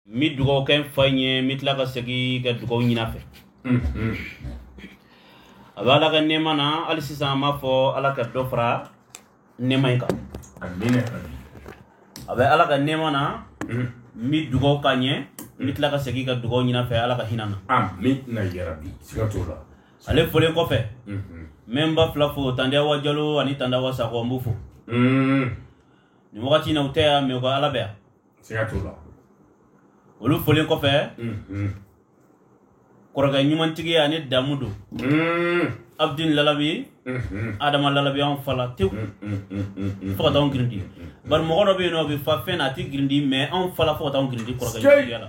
n bɛ dugawu kɛ n fa in ye n bɛ tila ka segin ka dugawu ɲini a fɛ a bɛ ala ka nɛɛma na hali sisan n b'a fɔ ala ka dɔ fara nɛɛma in kan a bɛ ala ka nɛɛma na n bɛ dugawu k'a ɲɛ n bɛ tila ka segin ka dugawu ɲini a fɛ ala ka hinɛ na ale folen kɔfɛ n bɛ n ba fila fo tandi awa jalo ani tandi awa sakɔ n b'u fo nin wagati in na u tɛ yan mɛ u ka ala bɛ yan siga t'o la olu folen kɔfɛ kɔrɔkɛ ɲumantigi ani damu don abdin lalabi adama lalabi anw fala tew fo ka taa anw girindi bari mɔgɔ dɔ bɛ yen n'o bɛ fa fɛn na a tɛ girindi mɛ anw fala fo ka taa anw girindi kɔrɔkɛ ɲumantigi la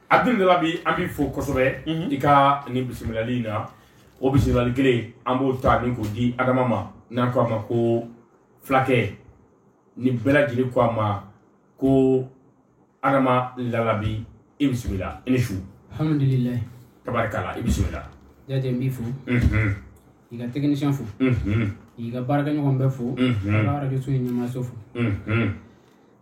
Abdin lalabi an b'i fo kosɛbɛ i ka nin bisimilali in na o bisimilali kelen an b'o ta ni k'o di adama ma n'an ko a ma ko fulakɛ ni bɛɛ lajɛlen ko a ma ko adama lalabi i bisimila i ni su alhamdulilayi tabarikala i bisimila jate n b'i fo mhm i ka tɛkinisiyɛn fo mhm i ka baarakɛɲɔgɔn bɛɛ fo Mhm. ka arajo so in ɲɛmaaso fo mhm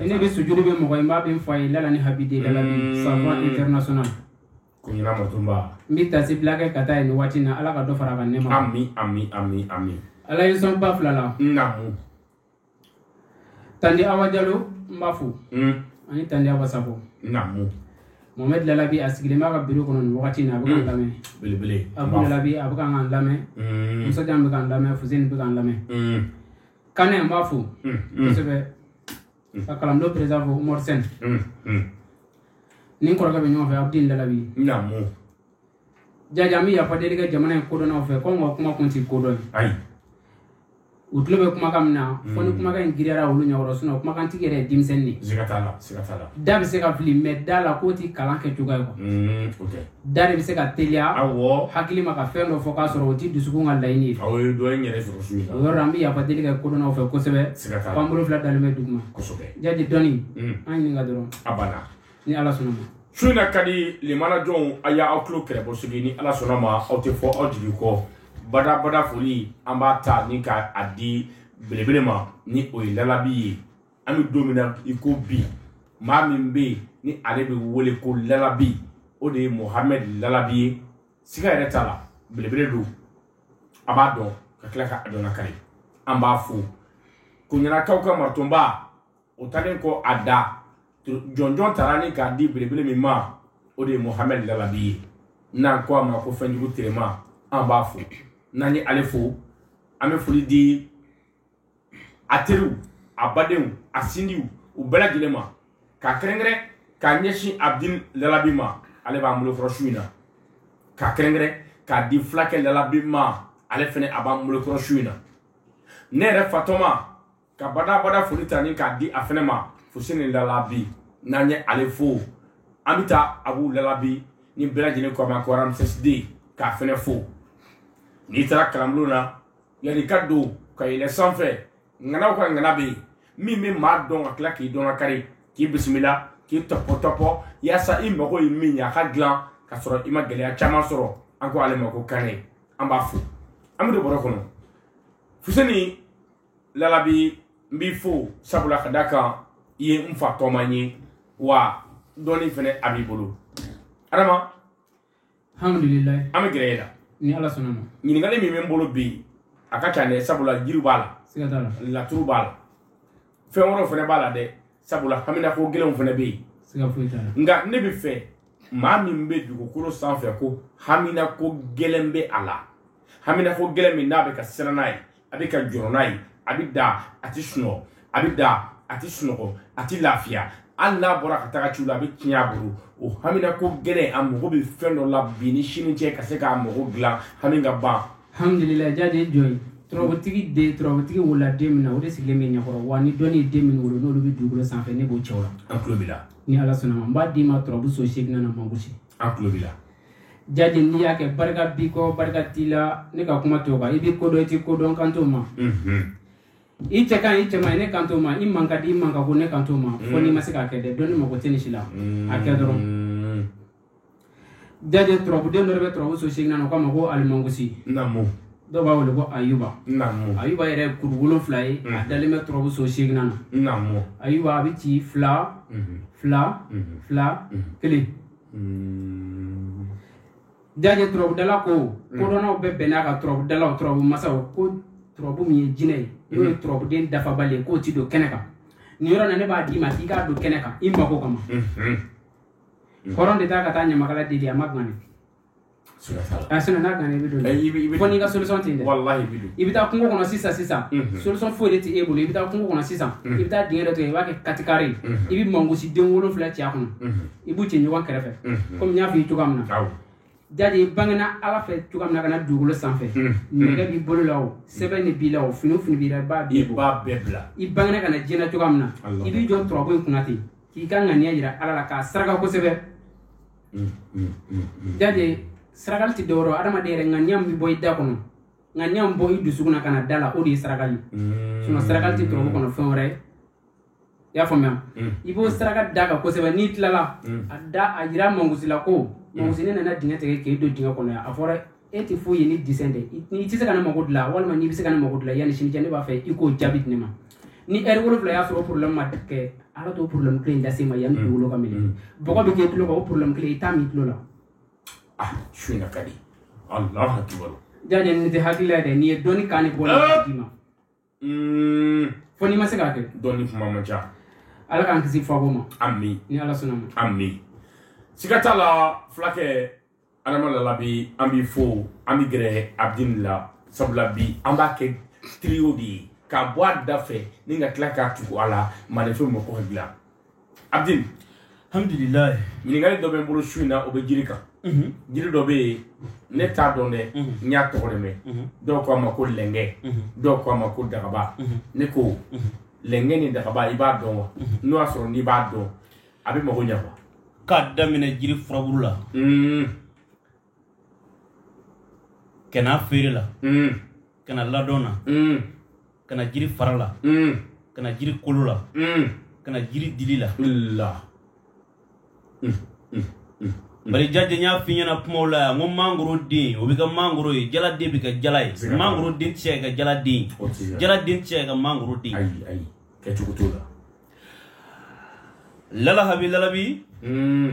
ne bɛ sujudu bɛ mɔgɔ in b'a bɛ fɔ a ye lala ni abdin lalabi savant international koɲina matonba n bɛ taasibila kɛ ka taa nin waati na ala ka dɔ fara ka nɛɛma ami ami ami ami ala y'i sɔn ba fila la naamu tandi awa jalo n b'a fo mm. ani tandi awa sakɔ naamu mohamɛd lalabi a sigilen b'a ka biro kɔnɔ nin wagati na a bɛ k'an mm. lamɛn belebele abu lalabi a bɛ k'an lamɛn mm. musajan bɛ k'an lamɛn fuseni bɛ k'an lamɛn kane n b'a fo kosɛbɛ ka kalandenw perez umar sɛn ni kɔrɔkɛ bɛ ɲɔgɔn fɛ abdin lalabi jaja an bɛ yafa deli kɛ jamana in kodɔnnaw fɛ ko n ka kuma kun tɛ kodɔn ye u tulo bɛ kumakan min na fo ni kumakan in giriyara olu ɲɛkɔrɔ sinɔ kumakan tigi yɛrɛ ye denmisɛnnin de da bɛ se ka fili mɛ da la k'o tɛ kalan kɛ juguya ye da de bɛ se ka teliya awɔ hakili ma ka fɛn dɔ fɔ k'a sɔrɔ o tɛ dusukun ka laɲini ye aw ye dɔ in yɛrɛ sɔrɔ su in na o yɔrɔ la, an bɛ yafa deli kɛ kodɔnnaw fɛ kosɛbɛ siga t'a la k'an bolo fila dalen bɛ duguma kosɛbɛ jaati dɔnni Mm. an ɲininka dɔrɔn a banna ni ala sɔnna ma su in na ka di limana jɔnw a y'aw tulo kɛrɛbɔ sigi ni ala sɔnna ma aw tɛ fɔ aw jigi kɔ bada bada foli an b'a ta ni k'a di belebele ma ni o ye lalabi ye an bɛ don min na i ko bi maa min bɛ yen ni ale bɛ wele ko lalabi o de ye muhamɛ lalabi ye siga yɛrɛ t'a la belebele don a b'a dɔn ka tila k'a dɔnna kari an b'a fo koɲinakaw ka martonba o talen kɔ a da jɔnjɔn taara ni k'a di belebele min ma o de ye muhamɛ lalabi ye n'an ko a ma ko fɛnjugu tema an b'a fo n'an ye ale fo an bɛ foli di a teriw a badenw a sinjiw u bɛɛ lajɛlen ma ka kɛrɛnkɛrɛn ka ɲɛsin abdin lalabi ma ale b'an bolo kɔrɔ su in na ka kɛrɛnkɛrɛn k'a di fulakɛ lalabi ma ale fɛnɛ a b'an bolo kɔrɔ su in na ne yɛrɛ fa tɔma ka badabada foli ta ni k'a di a fɛnɛ ma fuseni lalabi n'an ye ale fo an bɛ taa abu lalabi ni bɛɛ lajɛlen k'o ma ko Ramses D k'a fɛnɛ fo n'i taara kalanbulon na yanni ka don ka yɛlɛ sanfɛ ŋanaw ka ŋana bɛ yen min bɛ maa dɔn ka tila k'i dɔn ka kari k'i bisimila k'i tɔpɔ tɔpɔ yaasa i mago ye min ye a k'a dilan ka sɔrɔ i ma gɛlɛya caman sɔrɔ an ko ale ma ko kane an b'a fo an bɛ don bɔrɔ kɔnɔ fuseni lalabi n b'i fo sabula ka da kan i ye n fa tɔma ye wa dɔnni fɛnɛ a b'i bolo adama an bɛ gɛrɛ e la ni ala sɔnna ma ɲininkali min bɛ n bolo bi a ka ca dɛ sabula jiri b'a la siga t'a la laturu b'a la fɛn wɛrɛw fɛnɛ b'a la dɛ sabula haminako gɛlɛnw fɛnɛ bɛ yen siga foyi t'a la nka ne b'a fɛ maa min bɛ dugukolo sanfɛ ko haminako gɛlɛn bɛ a la haminako gɛlɛn min n'a bɛ ka siran n'a ye a bɛ ka jɔrɔ n'a ye a bɛ da a tɛ sunɔgɔ a bɛ da a tɛ sunɔgɔ a tɛ lafiya hali n'a bɔra ka taga ciw la a bɛ tiɲɛ a bolo o haminako gɛlɛn a mago bɛ fɛn dɔ la bi ni sini cɛ ka se k'a mago dilan hami ka ban alhamdulilayi jadi ye jɔn ye turabutigi den turabutigi wolola den min na o de sigilen bɛ ɲɛkɔrɔ wa ni dɔnni ye den min wolo n'olu bɛ dugukolo sanfɛ ne b'o cɛw la an tulo b'i la ni ala sɔnna ma n b'a d'i ma turabu so seginnan na mangosi an tulo b'i la jadi n'i y'a kɛ barika b'i kɔ barika t'i la ne ka kuma t'o kan i bɛ ko dɔn i tɛ ko dɔn kan t'o ma i cɛ ka ɲi i cɛ man ɲi ne kan t'o ma i man ka di i man ka go ne kan t'o ma fo n'i ma se k'a kɛ dɛ dɔnni mago tɛ nin si la a kɛ dɔrɔn jadi turabuden dɔ de bɛ turabu so seginnan na o k'a ma ko alimangusi namu dɔw b'a wele ko ayuba namu ayuba yɛrɛ ye kuru wolonfila ye a dalen bɛ turabu so seginnan na namu ayuba a bɛ ci fila fila fila kelen hmm. jajɛ turabudala ko hmm. kodɔnnaw bɛɛ bɛnna a kan turabudalaw turabu masaw ko turabu min ye jinɛ ye n'o ye turabuden dafabali ye k'o ti don kɛnɛ kan nin yɔrɔ na ne b'a d'i ma k'i k'a don kɛnɛ kan i mago kama hɔrɔn de taa ka taa ɲamakala deli a ma gane a sɛnɛ n'a kan i bɛ don fo n'i ka solution tɛ yen dɛ walahi i bɛ don i bɛ taa kungo kɔnɔ sisan sisan solution foyi de tɛ e bolo i bɛ taa kungo kɔnɔ sisan i bɛ taa dingɛ dɔ tigɛ i b'a kɛ katikari i bɛ mangosi den wolonfila ci a kɔnɔ i b'u ci ɲɔgɔn kɛrɛfɛ komi n y'a f'i ye cogoya min na jadi i bangena ala fɛ cogoya min na ka na dugukolo sanfɛ nɛgɛ b'i bolo la o sɛbɛn de b'i la o fini o fini b'i la i b'a bɛɛ bɔ i bangena ka na diɲɛ na cogoya min na i b'i jɔ turabu in kunna ten k'i ka ŋaniya yira ala la k'a saraka kosɛbɛ mm, mm, mm, jaje sarakali tɛ dɔwɛrɛ adamaden yɛrɛ ŋaniya min bɛ bɔ i da kɔnɔ ŋaniya min bɔ i dusukun na ka na da la o de ye sarakali ye sinɔ sarakali tɛ tɔrɔbu kɔnɔ fɛn wɛrɛ ye i y'a faamuya i b'o saraka da kan kosɛbɛ n'i tilala a da a yira mangu si la ko mangu si ne nana dingɛ tigɛ k'e don dingɛ kɔnɔ yan a fɔra e tɛ foyi ye ni disɛn tɛ n'i tɛ se ka ne mago dilan walima n'i bɛ se ka ne mago dilan yanni sini cɛ ne b'a fɛ i k'o jaabi di ne ma ni ɛri wolonfila y'a sɔrɔ porobilɛmu ma kɛ ala t'o porobilɛmu kelen lase ma yanni mm. wolo ka minɛ mm. bɔgɔ bɛ k'e tulo kan o porobilɛmu kelen i t'a mɛn i tulo la ah su in ka di alahu akibaru jaje nin tɛ hakilila yɛrɛ nin ye dɔnni kan ne bɔra d'i ma fo n'i ma se k'a kɛ dɔnni kuma man ca ala k'an kisi fako ma ami ni ala sɔnna ma ami siga t'a la fulakɛ adama lala bi an b'i fo an bɛ gɛrɛ abdin la sabula bi an b'a kɛ trio de ye k'a bɔ a da fɛ ni ka tila k'a tugu a la maninfin mɔgɔ dilan abdin alihamidulilahi ɲininkali dɔ bɛ n bolo su in na o bɛ jiri kan jiri dɔ bɛ yen ne t'a dɔn dɛ n y'a tɔgɔ de mɛn dɔw ko a ma ko lɛnkɛ dɔw ko a ma ko dagaba ne ko lɛnkɛ ni dagaba i b'a dɔn wa n'o y'a sɔrɔ n'i b'a dɔn a bɛ mago ɲɛ wa k'a daminɛ jiri furaburu la ka na feere la mm. ka na ladɔn na mm. ka na jiri fara la mm. ka na jiri kolo la mm. ka na jiri dili la la mm. Mm. Mm. bari jaje n y'a f'i ɲɛna kumaw la yan n ko mangoro den o bɛ kɛ mangoro ye jala den bɛ kɛ jala ye mangoro den tɛ se ka kɛ jala den ye jala den tɛ se ka kɛ mangoro den ye kɛcogo t'o la lalahabi lalabi mm.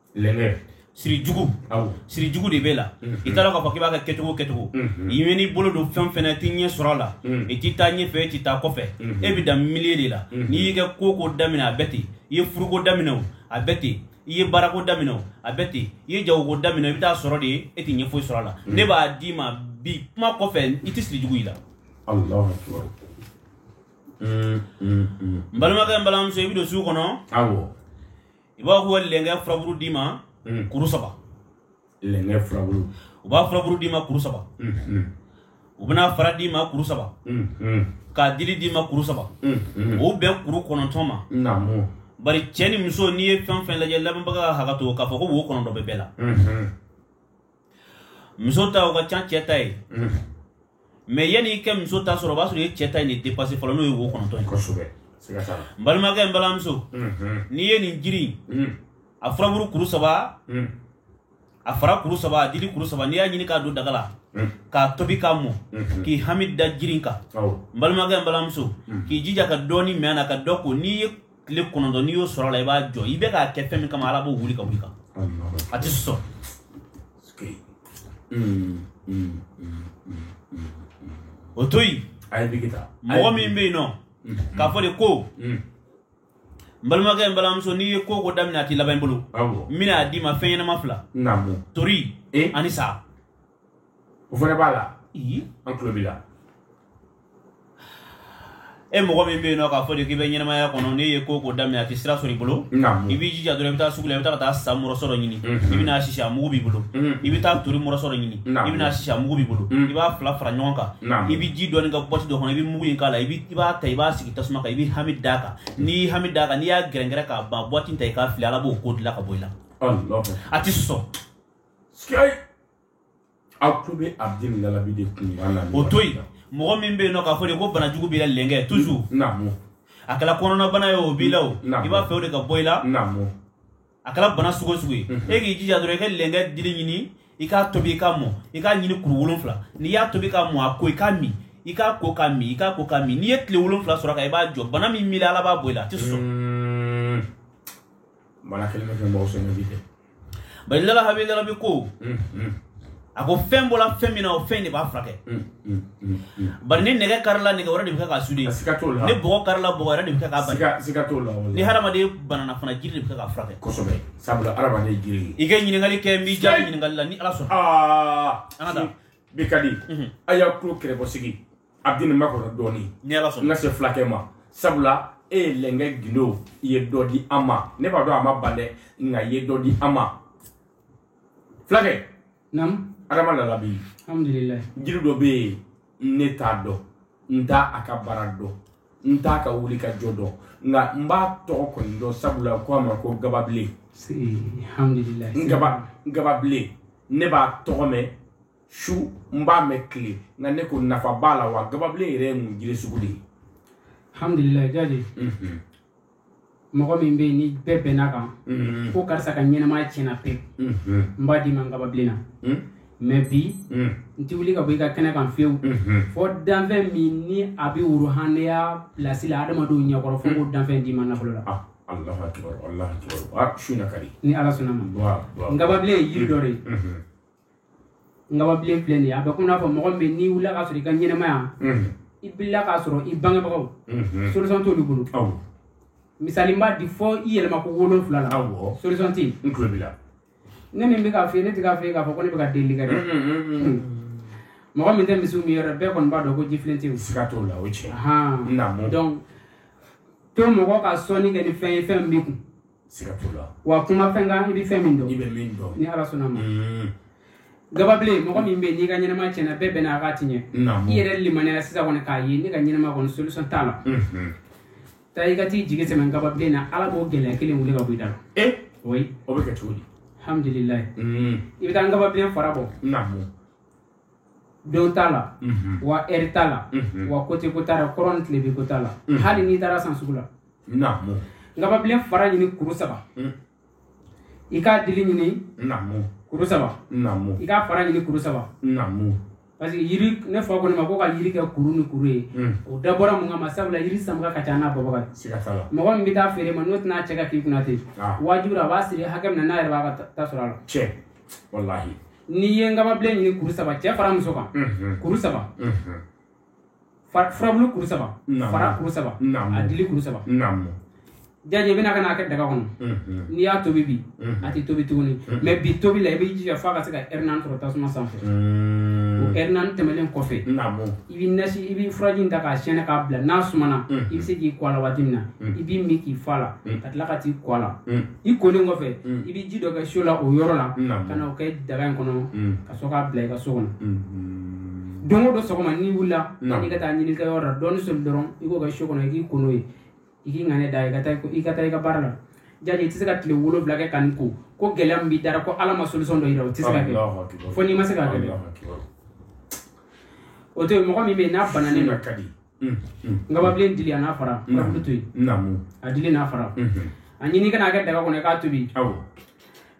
lɛngɛ siri jugu awɔ siri jugu de b'e la i t'a dɔn k'a fɔ k'i b'a kɛ kɛcogo o kɛcogo i man'i bolo don fɛn o fɛn na i tɛ ɲɛ sɔrɔ a la i tɛ taa ɲɛfɛ i tɛ taa kɔfɛ e bɛ dan milieu de la n'i y'i ka ko o ko daminɛ a bɛ ten i ye furuko daminɛ o a bɛ ten i ye baarako daminɛ o a bɛ ten i ye jagoko daminɛ i bɛ t'a sɔrɔ de e tɛ ɲɛ foyi sɔrɔ a la ne b'a d'i ma bi kuma kɔfɛ i tɛ siri jugu y'i la alahu akibaru n balimakɛ n balimamuso i bɛ don sugu kɔnɔ awɔ i b'a fɔ lɛnkɛ furaburu d'i ma kuru saba lɛnkɛ furaburu u b'a furaburu d'i ma kuru saba u bɛn'a fara d'i ma kuru saba k'a dili d'i ma kuru saba o bɛn kuru kɔnɔntɔn ma bari cɛ ni muso n'i ye fɛn fɛn lajɛ lamɛnbaga ka hakɛ to k'a fɔ ko wo kɔnɔntɔn bɛ bɛɛ la muso ta o ka ca cɛ ta ye mɛ yanni i ka muso ta sɔrɔ o b'a sɔrɔ i ye cɛ ta in de depase fɔlɔ n'o ye wo kɔnɔntɔn ye kosɛbɛ siga t'a la n balimakɛ n balimamuso Mhm. n'i ye nin jiri in Mm. a furaburu kuru saba Mm. a fara kuru saba a dili kuru saba n'i y'a ɲini k'a don daga la Mm. k'a tobi k'a mɔ Mhm. k'i hami da jiri in kan awɔ n balimakɛ n balimamuso k'i jija ka dɔɔni min a la ka dɔ ko n'i ye tile kɔnɔntɔn n'i y'o sɔrɔ la i b'a jɔ i bɛ k'a kɛ fɛn min kama ala b'o wuli ka wuli kan a tɛ sɔn o to yen mɔgɔ min bɛ yen nɔ k'a fɔ de ko n balimakɛ n balimamuso n'i ye ko o ko daminɛ a tɛ laban i bolo n bɛna a d'i ma fɛn ɲɛnama fila tori ani sa o fana b'a la an tulo b'i la e mɔgɔ min bɛ yen nɔ k'a fɔ de k'i bɛ ɲɛnamaya kɔnɔ n'i ye ko o ko daminɛ a tɛ sira sɔrɔ i bolo i b'i jija dɔrɔn i bɛ taa sugu la i bɛ taa ka taa sa mɔrɔsɔ dɔ ɲini i bɛ n'a sisi a mugu b'i bolo i bɛ taa tori mɔrɔsɔ dɔ ɲini i bɛ n'a sisi a mugu b'i bolo i b'a fila fara ɲɔgɔn kan i bɛ ji dɔɔni kɛ bɔti dɔ kɔnɔ i bɛ mugu in k'a la i b'a ta i b'a sigi tasuma kan i b'i hami d'a kan n'i y'i hami d'a kan n'i y'a gɛrɛngɛrɛ k'a ban bɔti ta i k'a fili ala b'o ko dilan ka bɔ i la a tɛ sɔn aw tulo bɛ abdul lalabi de kun y'a lamɛn o to yen mɔgɔ min bɛ yen nɔ k'a fɔ de ko banajugu b'i la lɛnkɛ toujours naamu a kɛra kɔnɔnabana ye o b'i la o i b'a fɛ o de ka bɔ i la naamu a kɛra bana sugu o sugu ye e k'i jija dɔrɔn i ka lɛnkɛ dili ɲini i k'a tobi i k'a mɔ i k'a ɲini kuru wolonfila n'i y'a tobi k'a mɔ a ko i k'a min i k'a ko k'a min i k'a ko k'a min n'i ye tile wolonfila sɔrɔ kan i b'a jɔ bana min b'i la ala b'a bɔ i la a tɛ sɔn wala kelen bɛ fɛn bɔ sɛnɛ bi kɛ bari lala abdul lalabi ko a ko fɛn bɔra fɛn min na o fɛn de b'a furakɛ bari ni nɛgɛ karila nɛgɛ wɛrɛ de bɛ kɛ k'a sude ni bɔgɔ karila bɔgɔ wɛrɛ de bɛ kɛ k'a bali ni hadamaden banana fana jiri de bɛ kɛ k'a furakɛ kosɛbɛ sabula hadamaden jiri i ka ɲininkali kɛ n b'i jaabi ɲininkali la ni ala sɔnna an ka taa bi ka di a y'a tulo kɛrɛbɔ sigi abdul n makɔnɔ dɔɔnin ni ala sɔnna n ka se fulakɛ ma sabula e ye lɛnkɛ gindo i ye dɔ di an ma ne b'a dɔn a ma ban dɛ nka i ye dɔ di an ma fulakɛ naamu adama lalabi alhamdulilayi jiri dɔ bɛ yen ne t'a dɔn n t'a a ka baara dɔn n t'a ka wuli ka jɔ dɔn nka n b'a tɔgɔ kɔni dɔn sabula ko a ma ko gababilen alhamdulilayi n gaba gababilen ne b'a tɔgɔ mɛn su n b'a mɛn tile nka ne ko nafa b'a la wa gababilen yɛrɛ ye mun jiri sugu de ye alhamdulilayi jaati mhm. mɔgɔ min bɛ yen ni bɛɛ bɛnna kan mhm. ko karisa ka ɲɛnamaya tiɲɛna pewu mhm. n b'a d'i ma nkababilen na mais bi n ti wuli ka bɔ i ka kɛnɛ kan fiyewu fo danfɛn min ni a bɛ woro hannenya pilasi la adamadenw ɲɛkɔrɔ fo n k'o danfɛn d'i ma nafolo la ah. Allahu akbar Allahu akbar a ah, su na ka di ni ala sɔnna ma nkababilen ye yiri dɔ de ye mhm. ngababilen filɛ nin ye a bɛ komi n'a fɔ mɔgɔ min bɛ n'i wulila k'a sɔrɔ i ka ɲɛnamaya i bilila k'a sɔrɔ i bangebagaw solution t'olu bolo misali n b'a di fo i yɛlɛma ko wolonfila la solution tɛ yen ne min bɛ k'a f'i ye ne tɛ k'a f'i ye k'a fɔ ko ne bɛ ka delili kɛ dɛ mɔgɔ min tɛ misiw minyɔrɔ bɛɛ kɔni b'a dɔn ko jifilen tɛ yen siga t'o la o ye tiɲɛ ye donc to mɔgɔ ka sɔnni kɛ ni fɛn ye fɛn min b'i kun wa kuma fɛn kan i bɛ fɛn min dɔn ni ala sɔnna a ma mm. gababilen mɔgɔ min bɛ n'i ka ɲɛnama tiɲɛna bɛɛ bɛnna a kan a tɛ ɲɛ i yɛrɛ limaniyara sisan kɔni k'ayi ne ka ɲɛnama kɔni solution t'a la mm-hmm. taa i ka t'i jigi sɛmɛ gababilen na ala b'o gɛlɛya kelen wuli ka bɔ i da la eh? o bɛ kɛ cogo di alhamdulilayi mm. i bɛ taa ngababilen fara bɔ don t'a la wa heure t'a la wa côté ko t'a la kɔrɔn ni tilebin ko t'a la hali n'i taar'a san sugu la nkababilen fara ɲini kuru saba i k'a dili ɲini kuru saba i k'a fara ɲini kuru saba parce que yiri ne fa kɔni ma ko ka yiri kɛ kuru ni kuru ye o dabɔra mun kama sabula yiri sanbaga ka ca n'a bɔbaga ye mɔgɔ min bɛ taa feere i ma n'o tɛn'a cɛ ka k'i kunna ten wajibi a b'a siri hakɛ min na n'a yɛrɛ b'a ka ta sɔrɔ a la n'i ye nkababilen ɲini kuru saba cɛ fara muso kan kuru saba furabulu kuru saba fara kuru saba a dili kuru saba jaje i bɛna ka n'a kɛ daga kɔnɔ n'i y'a tobi bi a tɛ tobi tuguni mais bi tobi la i b'i jija f'a ka se ka heure naani sɔrɔ tasuma sanfɛ o heure naani tɛmɛnen kɔfɛ i b'i nasi i b'i furaji in ta k'a sɛɛnɛ k'a bila n'a sumana i bɛ se k'i ko a la waati min na i b'i min k'i fa a la ka tila ka t'i ko a la i kolen kɔfɛ mm. i bɛ ji dɔ kɛ so la o yɔrɔ la ka na o kɛ daga in kɔnɔ mm. ka sɔrɔ k'a bila i ka so kɔnɔ mm-hmm. don o don sɔgɔma n'i wulila yanni i ka taa ɲininikɛyɔrɔ la dɔɔni soli dɔrɔn i k'o kɛ so kɔnɔ i k'i ko n'o ye i k'i ŋaniya da i ka taa i ka taa i ka baara la jaje i tɛ se ka tile wolonwula kɛ ka nin ko ko gɛlɛya min b'i da la ko ala ma solution dɔ yira o tɛ se ka kɛ fo n'i ma se k'a kɛ o to yen mɔgɔ min bɛ yen n'a bananen don Mm, mm. nkababilen dili a n'a fara mm. furabulu to yen a dili n'a fara mm-hmm. a ɲini ka n'a kɛ daga kɔnɔ i k'a tobi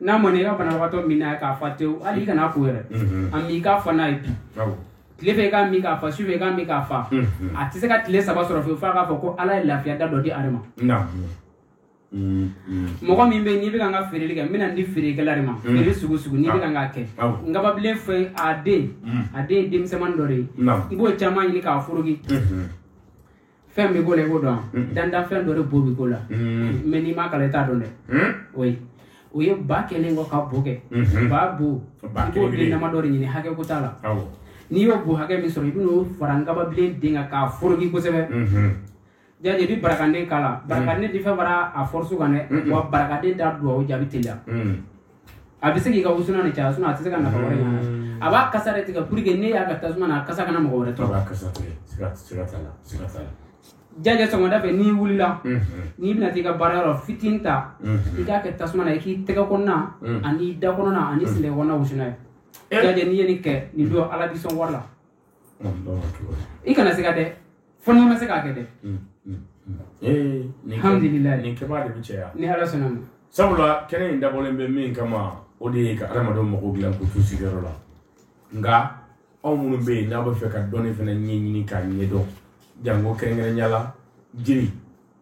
n'a mɔna i ka banabagatɔ min n'a ye k'a fa tewu hali i kan'a ko yɛrɛ mm-hmm. a min i k'a fa n'a ye bi tile fɛ i k'a min k'a fa su fɛ i k'a min k'a fa mm-hmm. a tɛ se ka tile saba sɔrɔ fewu f'a k'a fɔ ko ala ye lafiya da dɔ di ale ma mɔgɔ min bɛ n'i bɛ ka feereli kɛ n bɛn'a di feerekɛla de ma feere sugu sugu n'i bɛ k'a kɛ nkababilen fɛ a den a den denmisɛnnin dɔ de ye i b'o caman ɲini k'a foroki fɛn bɛ k'o la i k'o dɔn dantanfɛn dɔ de bo bɛ k'o la mais n'i m'a kalan i t'a dɔn dɛ o ye o ye ba kɛlen kɔ ka bo kɛ ba bo i b'o den dama dɔ de ɲini hakɛ ko t'a la n'i y'o bo hakɛ min sɔrɔ i bɛn'o fara nkababilen den kan k'a foroki kosɛbɛ jadi i bɛ barakanden k'a la mm. barakanden tɛ fɛn fara a force kan dɛ mm. wa barakanden t'a duwawu jaabi teliya mm. a bɛ se k'i ka wusulan ni caya a tɛ se ka nafa wɛrɛ ɲa a b'a kasa de tigɛ pour que n'i y'a kɛ tasuma na a kasa kana mɔgɔ wɛrɛ tɔɔrɔ jajɛ sɔgɔmada fɛ n'i wulila mm-hmm. n'i bɛna t'i ka baarayɔrɔ fitinin ta mm-hmm. i k'a kɛ tasuma na i k'i tɛgɛ kɔnɔna ani da kɔnɔna ani sen kɔnɔna wusu n'a ye jajɛ n'i ye nin kɛ nin don ala b'i sɔn wari la i kana siga dɛ fo n'i ma se k'a kɛ dɛ alhamdulilayi nin kɛbaa de bɛ caya ni ala sɔnna ma sabula kɛnɛ in dabɔlen bɛ min kama o de ye ka adamadenw mago dilan k'u t'u sigiyɔrɔ la nka aw minnu bɛ yen n'a b'a fɛ ka dɔnni fana ɲɛɲini k'a ɲɛdɔn janko kɛrɛnkɛrɛnya la jiri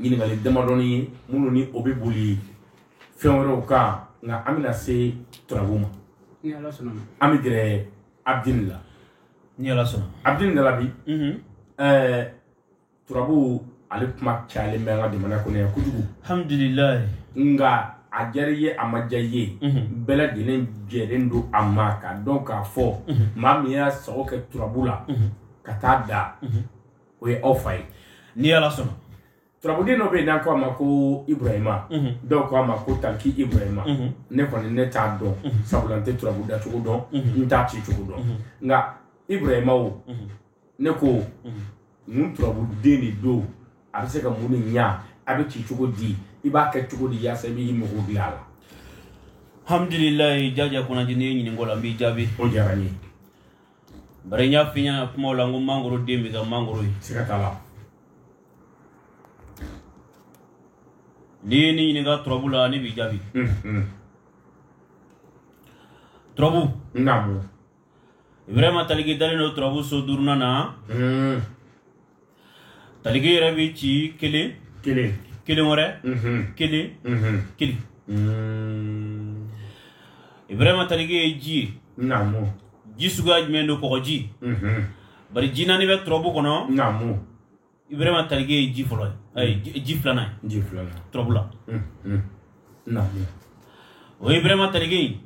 ɲininkali damadɔni ye minnu ni o bɛ boli fɛn wɛrɛw kan nka an bɛna se turabu ma ni ala sɔnna ma an bɛ gɛrɛ abdini la ni ala sɔnna abdini da la bi mhm. ɛɛ turabu ale kuma cayalen bɛ an ka jamana kɔnɔ yan kojugu alhamdulilayi nka a diyara i ye a ma diya i ye mhm. bɛɛ lajɛlen jɛlen don a ma k'a dɔn k'a fɔ mhm. maa min y'a sago kɛ turabu la ka taa da o ye aw fa ye ni ala sɔnna turabuden dɔ bɛ yen n'a ko a ma ko ibrahima dɔw ko a ma ko taliki ibrahima ne kɔni ne t'a dɔn sabula n tɛ turabu dacogo dɔn n t'a ci cogo dɔn nka ibrahima o ne ko mun turabuden de don a bɛ se ka mun de ɲa a bɛ ci cogo di i b'a kɛ cogo di yaasa i b'i mago dilan a la hamdulilayi jajɛ kunnadi ne ye ɲinink'o la n b'i jaabi o diyara n ye Bari n y'a f'i ɲɛna kumaw la n ko mangoro den bɛ kɛ mangoro ye siga t'a la n'i ye ne ɲininka turabu la ne b'i jaabi turabu ibrahima taliki dalen don turabu so duurunan na taliki yɛrɛ bɛ ci kelen kelen wɛrɛ kelen kelen ibrahima taliki ye ji ye naamu ji suguya jumɛn don kɔgɔji bari ji naani bɛ turabu kɔnɔ naamu ibrahima taliki ye ji fɔlɔ ye ji filanan ye ji filanan turabu la naamu o ye ibrahima taliki ye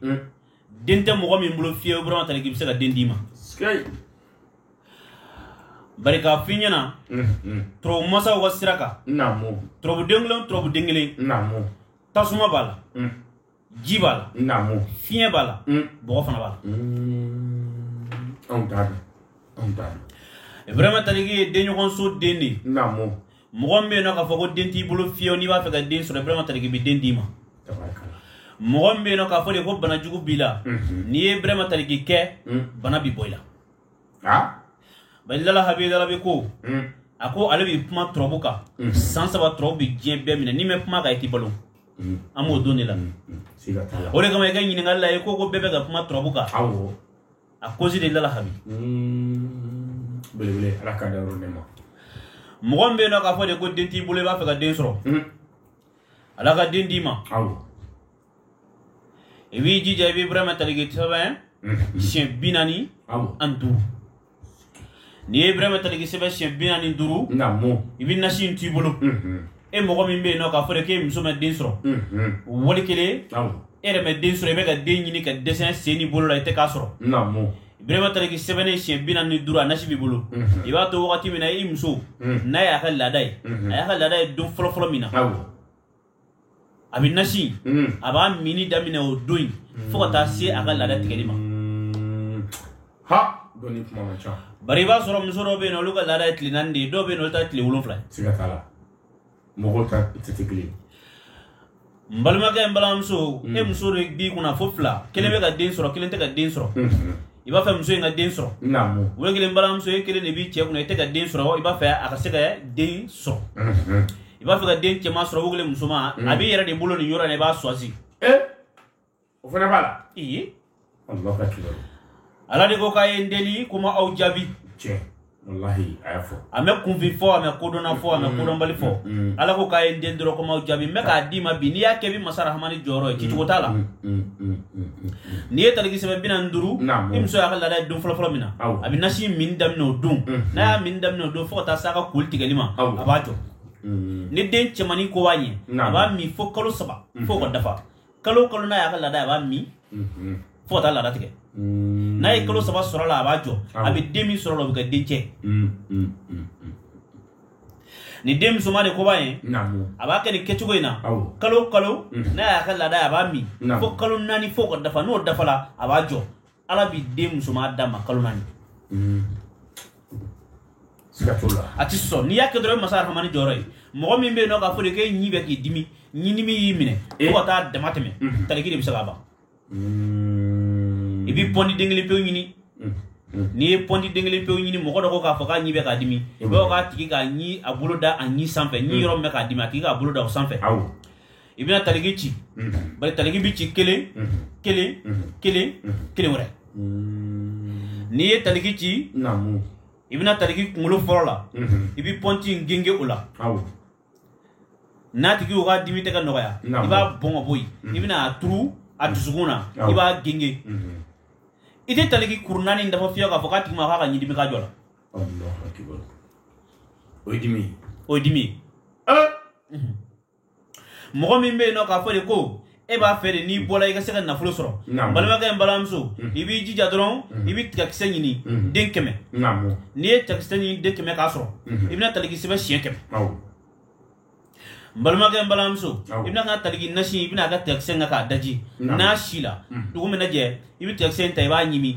den tɛ mɔgɔ min bolo fiyewu ibrahima taliki bɛ se ka den d'i ma bari k'a f'i ɲɛna turabu masaw ka sira kan turabuden kelen turabuden kelen tasuma b'a la ji b'a la fiɲɛ b'a la bɔgɔ fana b'a la ibrahima taliki ye denɲɔgɔnso den de ye mɔgɔ min bɛ yen n'o k'a fɔ ko den t'i bolo fiyewu n'i b'a fɛ ka den sɔrɔ ibrahima taliki bɛ den d'i ma mɔgɔ min bɛ yen n'o k'a fɔ de ko bana jugu b'i la n'i ye ibrahima taliki kɛ bana bɛ bɔ i la ah bari lala habi darabi ko hmm. a ko ale bɛ kuma turabu kan hmm. san saba turabu bɛ diɲɛ bɛɛ minɛ n'i mɛ kuma kan i tɛ balo hmm. an b'o don de la o de kama i ka ɲininkali la i ko ko bɛɛ bɛ ka kuma turabu kan à cause de lala habi belebele ala k'a dayɔrɔ nɛɛma mɔgɔ min bɛ yen n'o k'a fɔ de ko den t'i bolo i b'a fɛ ka den sɔrɔ ala ka den d'i ma i b'i jija i bɛ burama taliki sɛbɛn siɲɛ bi naani ani duuru n'i ye burama taliki sɛbɛn siɲɛ bi naani duuru i bɛ nasi in t'i bolo e mɔgɔ min bɛ yen n'o k'a fɔ k'e muso ma den sɔrɔ wali kelen e yɛrɛ ma den sɔrɔ i bɛ ka den ɲini ka dɛsɛ sen ni bolo la i tɛ k'a sɔrɔ burama taliki sɛbɛnnen siɲɛ bi naani ni duuru a nasi b'i bolo mhm. i b'a to wagati min na i muso mhm. n'a y'a ka laada ye mhm. a y'a ka laada ye don fɔlɔfɔlɔ min na a bɛ nasi a b'a minni daminɛ o don in fo ka taa se a ka laada tigɛli ma bari i b'a sɔrɔ muso dɔw bɛ yen olu ka laada ye tile naani de ye dɔw bɛ yen olu ta tile wolonwula n balimakɛ n balimamuso e muso de b'i kunna fo fila kelen bɛ ka den sɔrɔ kelen tɛ ka den sɔrɔ i b'a fɛ muso in ka den sɔrɔ wali kelen balimamuso e kelen de b'i cɛ kunna i tɛ ka den sɔrɔ i b'a fɛ a ka se ka den sɔrɔ i b'a fɛ ka den cɛman sɔrɔ wali kelen musoman a b'i yɛrɛ de bolo nin yɔrɔ in na i b'a choisi o fana b'a la iye ala de ko k'a ye n deli ko n b'aw jaabi walahi a y'a fɔ a mɛ kunfin fɔ a mɛ kodɔnna fɔ a mɛ kodɔnbali fɔ ala ko k'a ye n deli dɔrɔn ko n b'aw jaabi n bɛ k'a d'i ma bi n'i y'a kɛ i bɛ masa rahamani jɔyɔrɔ ye cicogo t'a la n'i ye taliki sɛbɛn bi naani duuru i muso y'a ka laada ye don fɔlɔfɔlɔ min na a bɛ nasi min daminɛ o don n'a y'a min daminɛ o don fo ka taa se a ka koli tigɛli ma a b'a jɔ ni den cɛmannin ko b'a ye a b'a min fo kalo saba fo ka dafa kalo kalo n'a y'a ka laada ye a b'a min fo ka taa laada tigɛ n'a ye kalo saba sɔrɔ la a b'a jɔ a bɛ den min sɔrɔ la o bɛ kɛ den cɛ ni den musoman de ko b'a ye a b'a kɛ nin kɛcogo in na kalo kalo n'a y'a ka laada ye a b'a min fo kalo naani fo ka dafa n'o dafala a b'a jɔ ala bɛ den musoman d'a ma kalo naani hmm. a tɛ sɔsɔ n'i y'a kɛ dɔrɔn i bɛ masa rahamani jɔyɔrɔ ye mɔgɔ min bɛ yen n'o k'a fɔ de k'e ɲi bɛ k'i dimi ɲi dimi y'i minɛ eh. fo ka taa damatɛmɛ hmm. taliki de bɛ se k'a ban hmm. i bɛ pɔndi den kelen pewu ɲini n'i ye pɔndi den kelen pewu ɲini mɔgɔ dɔ ko k'a fɔ k'a ɲi bɛ k'a dimi i b'a fɔ k'a tigi k'a ɲi a bolo da a ɲi sanfɛ ɲi yɔrɔ min bɛ k'a dimi a tigi k'a bolo da o sanfɛ i bɛna taliki ci bari taliki bɛ ci kelen kelen kelen kelen wɛrɛ n'i ye taliki ci i bɛna taliki kunkolo fɔlɔ la i bɛ pɔnti in genge o la n'a tigi o ka dimi tɛ ka nɔgɔya i b'a bɔn ka bɔ yen i bɛna a turu a dusukun na i b'a genge i tɛ taliki kuru naani dafa fiyewu k'a fɔ k'a tigi ma k'a ka ɲidimi ka jɔ la o ye dimi ye o ye dimi ye mɔgɔ min bɛ yen n'o k'a fɔ de ko e b'a fɛ de n'i bɔra i ka se ka nafolo sɔrɔ n balimakɛ n balimamuso i b'i jija dɔrɔn i bɛ tigakisɛ ɲini den kɛmɛ n'i ye tigakisɛ ɲini den kɛmɛ k'a sɔrɔ i bɛna taliki sɛbɛn siɲɛ kɛmɛ n balimakɛ n balimamuso i bɛ na ka taliki nasi i bɛn'a kɛ tigakisɛ in kan k'a daji n'a sila dugu mana jɛ i bɛ tigakisɛ in ta i b'a ɲimi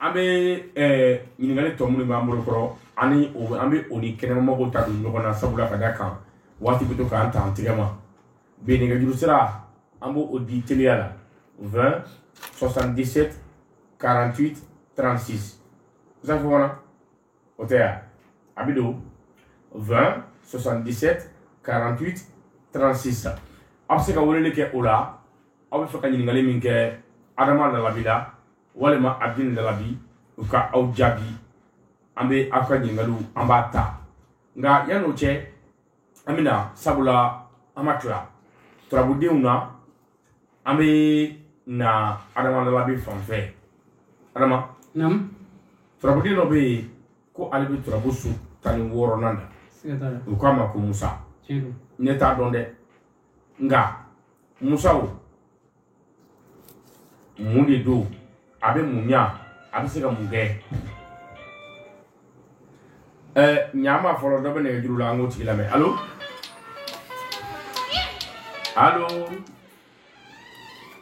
an bɛ eh, ɲininkali tɔ minnu b'an bolo kɔrɔ ani an bɛ o ni kɛnɛmamɔgɔw ta don ɲɔgɔn na sabula ka da kan waati bɛ to k'an ta an tɛgɛ ma bi nɛgɛjuru sira an bɛ o di teliya la 20 77 48 36 zan fɔ kɔnɔ o tɛ yan a bɛ don 20 77 48 36 la aw bɛ se ka weleli kɛ o la aw bɛ fɛ ka ɲininkali min kɛ adama lalabi la walima abdin lalabi u ka aw jaabi an bɛ aw ka ɲininkaliw an b'a ta nka yan'o cɛ an bɛna sabula an ma tila turabudenw na an bɛ na adama lalabi fan fɛ adama turabuden dɔ bɛ yen ko ale bɛ turabu su tan ni wɔɔrɔnan na u k'a ma ko musa ne t'a dɔn dɛ nka musa o mun de don a bɛ mun ɲɛ a bɛ se ka mun kɛ ɛ ɲa ma fɔlɔ dɔ bɛ nɛgɛjuru la an k'o tigi lamɛn alo alo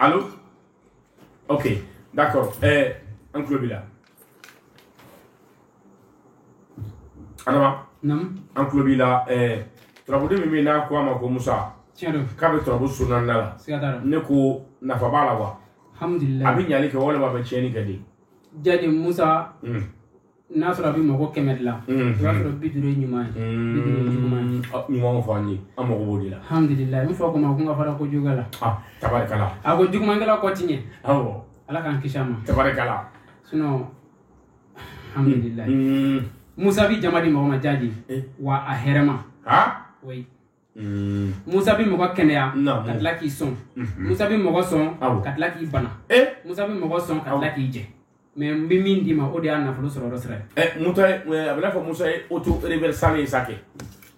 alo ok d'accord ɛ an tulo b'i la Adama an tulo b'i la eh, turabuden min bɛ yen n'a ko a ma ko musa k'a bɛ turabu su naaninan la ne ko nafa b'a la wa a bɛ ɲali kɛ walima a bɛ tiɲɛni kɛ de jaati musa hmm. n'a sɔrɔ a bɛ mɔgɔ kɛmɛ de la o hmm. i b'a sɔrɔ bi duuru ye ɲuman ye hmm. bi duuru ye juguman ye ɲuman fɔ an ye an mago b'o de la alhamdulilayi n fa ko n ma ko n ka fara kojuguya la ah, tabarikala a ko jugumankɛla kɔ ti ɲɛ awɔ Ala k'an kisi a ma tabarikala sinon alhamdulila musa bɛ jama di mɔgɔ ma jaati wa a hɛrɛma musa bɛ mɔgɔ kɛnɛya ka tila k'i sɔn musa bɛ mɔgɔ sɔn ka tila k'i bana musa bɛ mɔgɔ sɔn ka tila k'i jɛ mais n bɛ min d'i ma o de y'a nafolo sɔrɔ sira a bɛ n'a fɔ musa ye auto reverse ye sa kɛ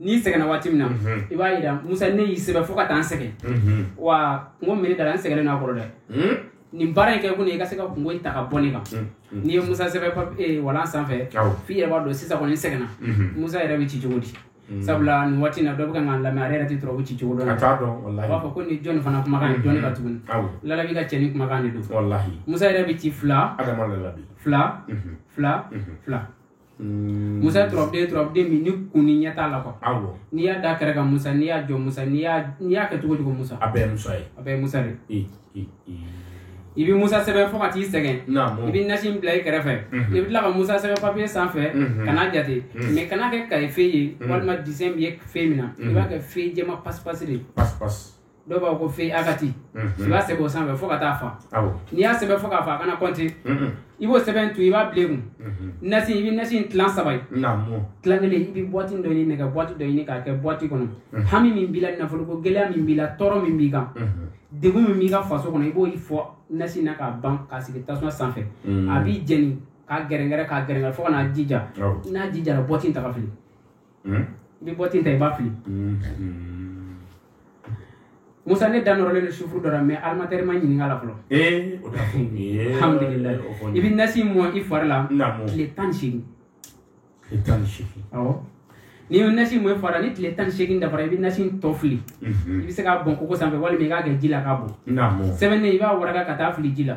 n'i sɛgɛnna waati min na i b'a yira musa ne y'i sɛbɛn fo ka taa n sɛgɛn wa kunko min dala n sɛgɛnnen n'a kɔrɔ dɛ nin baara in kɛ kun i ka se ka kunko ta ka bɔ ne kan n'i ye musa sɛbɛn papiye eh, walan sanfɛ f'i yɛrɛ b'a dɔn sisan kɔni n sɛgɛnna musa yɛrɛ bɛ ci cogo di Mm. sabula nin waati na dɔ bɛ kan k'a lamɛn ale yɛrɛ tɛ turabu ci cogo dɔn a b'a fɔ ko nin jɔni fana kumakan ye mm-hmm. jɔni ka tuguni lalabi ka cɛ ni kumakan de don musa yɛrɛ bɛ ci fila fila mm-hmm. fila mm-hmm. fila Mm. musa turabuden turabuden min ni kun ni ɲɛ t'a la kuwa awɔ n'i y'a da kɛrɛ kan musa n'i y'a jɔ musa n'i y'a n'i y'a kɛ cogo o cogo musa a bɛɛ ye musa ye a bɛɛ ye musa de ye. i i i i bɛ musa sɛbɛn fo ka t'i sɛgɛn i naamu bɛ nasi in bila i kɛrɛfɛ Mhm. i bɛ tila ka musa sɛbɛn papiye sanfɛ Mhm. kana jate Mhm. mɛ kana kɛ kaye fe ye Mhm. walima disɛn bɛ ye fe min na i b'a kɛ fe jɛman pasipasi de ye pas pas dɔw b'a fɔ ko fe akati i b'a sɛbɛn o sanfɛ fo ka t'a fa n'i y'a sɛbɛn fo k'a fa a kana kɔnte i b'o sɛbɛn to i b'a bila kun nasi i bɛ nasi in tilan saba ye tilan kelen i bɛ bɔti dɔ ɲini nɛgɛ bɔti dɔ ɲini k'a kɛ bɔti kɔnɔ hami min b'i la nafoloko gɛlɛya min b'i la tɔɔrɔ min b'i kan degun min b'i ka faso kɔnɔ i b'o fɔ nasi na k'a ban k'a sigi tasuma sanfɛ a bɛ jeni k'a gɛrɛngɛrɛ k'a gɛrɛngɛrɛ fo ka n'a ji ja n'a ji jara bɔti ta k'a fili Hmm? i bɛ bɔti in ta i b'a fili hmm, hmm. musa ne da nɔrɔlen don sifuru dɔ la mɛ animatɛri ma n ɲininka a la fɔlɔ eh, alhamdulillah i bɛ nasi mɔn i fari la tile tan ni seegin tile tan ni seegin awɔ n'i ye nasi mɔn i fari la ni tile tan ni seegin dafara i bɛ nasi tɔ fili mhm. i bɛ se k'a bɔn koko sanfɛ walima i k'a kɛ ji la k'a bɔn sɛbɛnnen i b'a waraka ka t'a fili ji la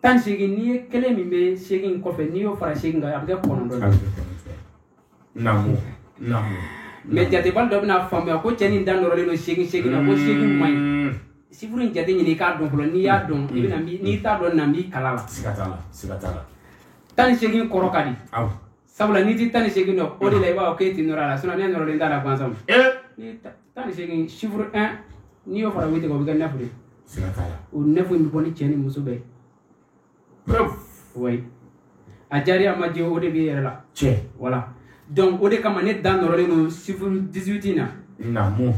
tan seegin n'i ye kelen min bɛ seegin in kɔfɛ n'i y'o fara seegin kan a bɛ kɛ kɔnɔntɔn ye naamu naamu mɛ jatebali dɔ bɛna faamuya ko cɛ nin da nɔrɔlen don seegin seegin na ko seegin man ɲi sifuru in jate ɲini i k'a dɔn fɔlɔ n'i y'a dɔn i bɛna n'i t'a dɔn an b'i kalan a la siga t'a la siga t'a la tan ni seegin kɔrɔ ka di awɔ sabula n'i ti tan ni seegin dɔn o de la i b'a fɔ k'e ti nɔrɔ a la sinɔn ne nɔrɔlen t'a la gansan ni tan ni seegin sifuru un n'i y'o fara witi kan o bɛ kɛ nɛfu de o nɛfu in bɛ bɔ ni cɛ ni muso bɛɛ ye a diyara a ma diya o de b'i yɛrɛ la tiɲɛ wala donc o de kama ne da nɔrɔlen don sifuru 18 in na naamu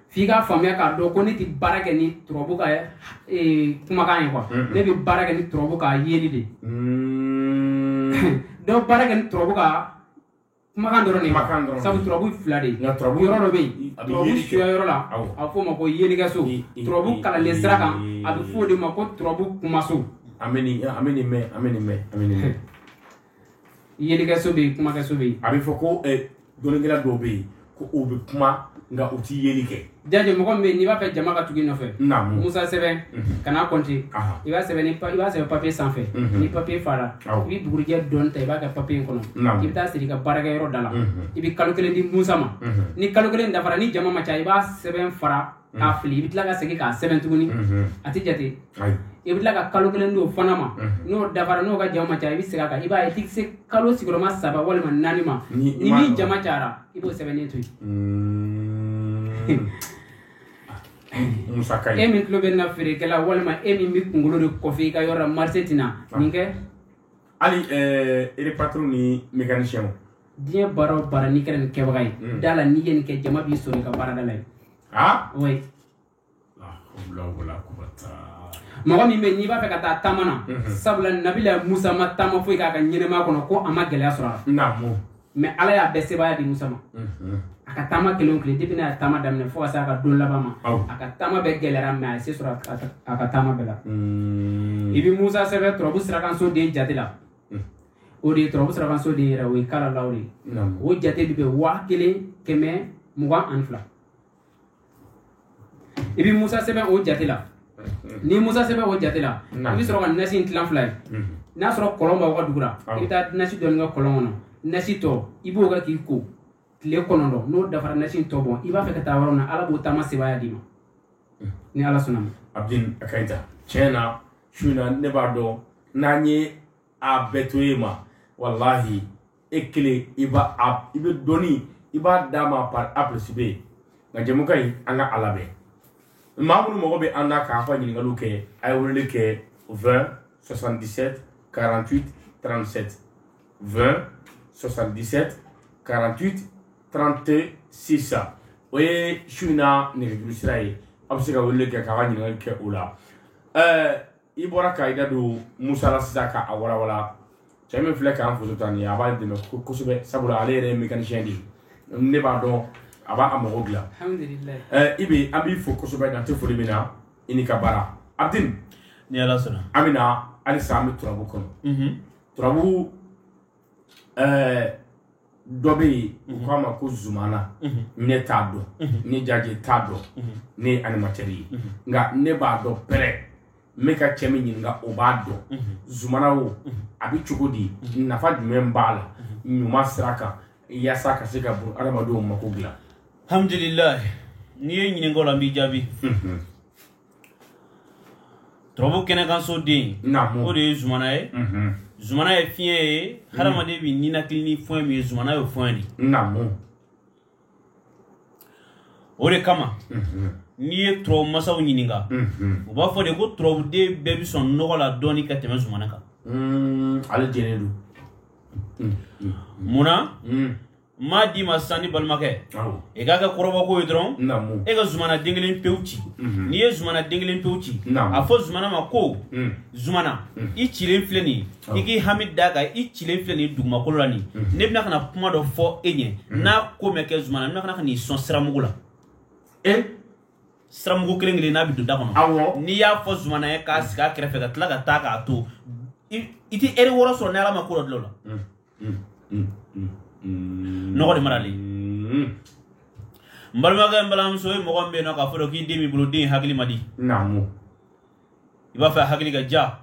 f'i k'a faamuya k'a dɔn ko ne tɛ baara kɛ ni turabu ka eh, kumakan ye kuwa mm-hmm. ne bɛ baara kɛ ni turabu ka yeli de mm-hmm. dɔw baara kɛ ni turabu ka kumakan dɔrɔn de sabu turabu fila de yɔrɔ dɔ bɛ yen turabu suya yɔrɔ la a bɛ f'o ma ko yelikɛso turabu kalanlen sira kan a bɛ f'o de ma ko turabu kumaso an bɛ nin mɛn an bɛ nin mɛn an bɛ nin mɛn yelikɛso bɛ yen kumakɛso bɛ yen a bɛ fɔ ko eh, dɔnnikɛla dɔw bɛ yen ko u bɛ kuma nka u tɛ yeli kɛ jaje mɔgɔ min bɛ yen n'i b'a fɛ jama ka tugu i nɔfɛ naamu musa sɛbɛn Mhm. kana kɔnte Aha. i b'a sɛbɛn ni pa- i b'a sɛbɛn papiye sanfɛ Mhm. ni papiye fara Awɔ. i bɛ bugurijɛ dɔɔni ta i b'a kɛ papiye in kɔnɔ Naamu. i bɛ taa siri i ka baarakɛyɔrɔ da la Mhm. i bɛ kalo kelen di musa ma Mhm. ni kalo kelen dafara ni jama ma ca i b'a sɛbɛn fara k'a fili i bɛ tila ka segin k'a sɛbɛn tuguni a tɛ jate i bɛ tila ka kalo kelen di o fana ma n'o dafara n'o ka jama ma ca i bɛ segin a kan i b'a ye i tɛ se kalo sigiyɔrɔma saba walima naani ma ni min jama cayara i b'o sɛbɛnnen to yen e min tulo bɛ n na feerekɛla walima e min bɛ kunkolo de kuwafe i ka yɔrɔ la marise tɛ na nin kɛ hali ereparatɛri ni mɛkanisiyɛnw diɲɛ baara o baara n'i kɛra nin kɛbaga ye mm. da la n'i ye nin kɛ jama b'i sɔrɔ i ka baarada la yen ah? oui mɔgɔ min bɛ yen n'i b'a fɛ ka taa taama na mm-hmm. sabula nabila musa ma taama foyi k'a ka ɲɛnɛmaya kɔnɔ ko a ma gɛlɛya sɔrɔ a la mɛ ala y'a bɛɛ sebaaya di musa ma mm-hmm. a ka taama kelen kelen depi n'a ye taama daminɛ fo ka se a ka don laban ma a ka taama bɛɛ gɛlɛyara mɛ a ye se sɔrɔ a ka taama bɛɛ la mm. i bɛ musa sɛbɛn turabu sirakanso den jate la o de ye turabu sirakanso den yɛrɛ o ye kalalaw de ye o jate bɛ bɛn waa kelen kɛmɛ mugan ani fila i bɛ musa sɛbɛn o jate la ni musa sɛbɛn o jate la i bɛ sɔrɔ ka nasi in tilan fila ye n'a sɔrɔ kɔlɔn b'aw ka dugu la i bɛ taa nasi dɔɔni kɛ kɔlɔn kɔnɔ nasi tɔ i b'o kɛ k'i ko tile kɔnɔntɔn n'o dafara nasi in tɔ bɔn i b'a fɛ ka taa yɔrɔ min na ala b'o taama sebaaya d'i ma ni ala sɔnna ma abdin a ka ɲi ta tiɲɛ na su in na ne b'a dɔn n'an ye a bɛɛ to e ma walahi e kelen i b'a a i bɛ dɔnni i b'a d'an ma par a plus b nka jɛmukan in an ka a labɛn maa minnu mago bɛ an na k'a ka ɲininkaliw kɛ a ye weleli kɛ 20 77 48 37 20 77 48 36 o ye su in na nɛgɛjuru sira ye aw bɛ se ka weleli kɛ k'a ka ɲininkali kɛ o la ɛɛ i bɔra ka i da don musa la sisan ka a walawala cɛ min filɛ k'an foto ta nin ye a b'a dɛmɛ ko- kosɛbɛ sabula ale yɛrɛ ye mécanicien de ye ne b'a dɔn a b'a a mago dilan alhamdulilayi ɛɛ i bɛ an b'i fo kosɛbɛ dan tɛ foli min na i ni ka baara abdin ni ala sɔnna an bɛ na halisa an bɛ turabu kɔnɔ turabu ɛɛ dɔ bɛ yen u mhm. k'a ma ko zumana mhm. ne t'a dɔn mhm. ne jaje t'a dɔn ne ye animatɛri ye nka ne b'a dɔn pɛrɛ n bɛ ka cɛ min ɲininka o b'a dɔn zumana o a bɛ cogo di nafa jumɛn b'a la ɲuman sira kan yaasa ka se ka bunadamadenw mako dilan. alhamdulilayi n'i ye n ɲininka o la n b'i jaabi. turabu kɛnɛ kan so den o de ye zumana ye zumana ye fiɲɛ ye hadamaden bɛ ninakili ni fɛn min ye zumana y'o fɛn de o de kama n'i ye turabu masaw ɲininka u b'a fɔ de ko turabuden bɛɛ bɛ sɔn nɔgɔ la dɔɔni ka tɛmɛ zumana kan ale jɛlen don munna n b'a d'i ma sisan n balimakɛ i k'a kɛ kɔrɔbɔko ye dɔrɔn e ka zumana den kelen pewu ci mhm. n'i ye zumana den kelen pewu ci a fɔ zumana ma ko mm. zumana mm. i cilen filɛ nin i k'i hami d'a kan i cilen filɛ nin dugumakolo la nin mhm. ne bɛna ka na kuma dɔ fɔ e ɲɛ mhm. n'a ko mɛ kɛ zumana n bɛna ka na ka n'i sɔn siramugu la e? siramugu kelen kelen n'a bɛ don da kɔnɔ n'i y'a fɔ zumana ye k'a sigi a kɛrɛfɛ ka tila ka taa k'a to i tɛ ɛri wɔɔrɔ sɔrɔ ni ala ma ko dɔ dilan o la mm. nɔgɔ de marali n balimakɛ n balimamuso ye mɔgɔ min bɛ yen nɔ k'a fɔ k'i den b'i bolo den hakili man di i b'a fɛ hakili ka diya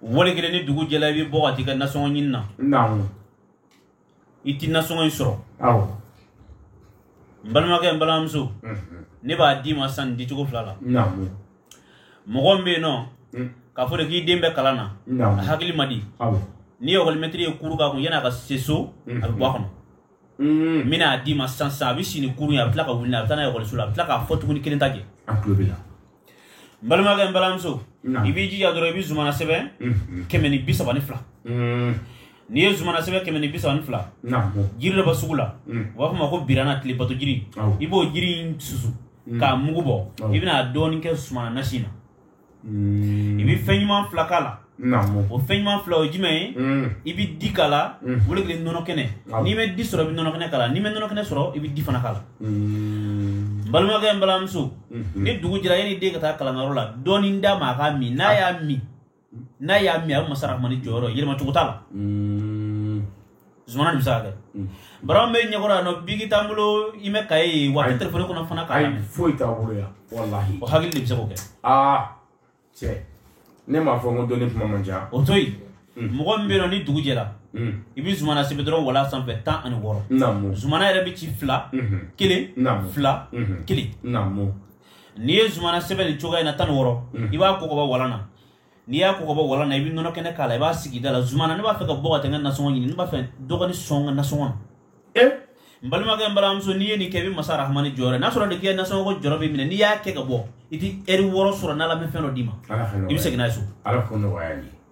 wale kelen ni dugu jɛla i bɛ bɔ ka t'i ka nasɔngɔ ɲini na i ti nasɔngɔ in sɔrɔ n balimakɛ n balimamuso ne b'a d'i ma sisan nin dicogo fila la mɔgɔ min bɛ yen nɔ hmm. k'a fɔ de k'i den bɛ kalan na a hakili man di ni ekɔlimɛtiri ye kuru k'a kun yanni a ka se so a bɛ bɔ a kɔnɔ n bɛna a d'i ma sisan sisan a bɛ si ni kurun ye a bɛ tila ka wuli n'a ye a bɛ taa n'a ye ekɔliso la a bɛ tila k'a fɔ tuguni kelen t'a jɛ a tulo bɛ la n balimakɛ n balimamuso i b'i jija dɔrɔn i bɛ zumana sɛbɛn kɛmɛ ni bi saba ni fila n'i ye zumana sɛbɛn kɛmɛ ni bi saba ni fila jiri dɔ bɛ sugu la u b'a fɔ a ma ko birana tile bato jiri i b'o jiri in susu k'a mugu bɔ i bɛna dɔɔnin kɛ zumana nasi na i bɛ fɛn ɲuman fila k'a la o fɛn ɲuman fila o ye jumɛn ye i bɛ di k'a la o de kelen nɔnɔ kɛnɛ n'i ma di sɔrɔ i bɛ nɔnɔ kɛnɛ k'a la n'i ma nɔnɔ kɛnɛ sɔrɔ i bɛ di fana k'a la n balimakɛ n balimamuso ni dugu jɛra yanni den ka taa kalanyɔrɔ la dɔɔnin d'a ma a k'a min n'a y'a min n'a y'a min a bɛ masa rahmani jɔyɔrɔ yɛlɛmacogo t'a la zumana de bɛ se k'a kɛ bara bɛ ɲɛkɔrɔ yan nɔ biki t'an bolo i mɛ kaye ye wa a tɛ telefɔni kɔnɔ fana k'a lamɛn foyi t'an bolo yan walahi o hakili de bɛ se k'o kɛ aa cɛ ne m'a fɔ n ko dɔnni kuma man ca o to yen mɔgɔ min bɛ yen nɔ ni dugu jɛra i bɛ zumana sɛbɛn dɔrɔn walan sanfɛ tan ani wɔɔrɔ zumana yɛrɛ bɛ ci fila kelen fila kelen n'i ye zumana sɛbɛn nin cogoya in na tan ni wɔɔrɔ i b'a ko ka bɔ walan na n'i y'a ko ka bɔ walan na i bɛ nɔnɔ kɛnɛ k'a la i b'a sigi da la zumana ne b'a fɛ ka bɔ ka taa n ka nasɔngɔ ɲini ne b'a fɛ dɔ ka ne sɔn n ka nasɔngɔ na ee n balimakɛ n balimamuso n'i ye nin kɛ i bɛ masa rahamani jɔyɔrɔ n'a sɔrɔ de k'i ka nasɔngɔko jɔrɔ b'i minɛ n'i y'a kɛ ka bɔ i tɛ ɛri wɔɔrɔ sɔrɔ n'ala ma fɛn dɔ d'i ma i bɛ segin n'a ye so ala k'o nɔgɔya ye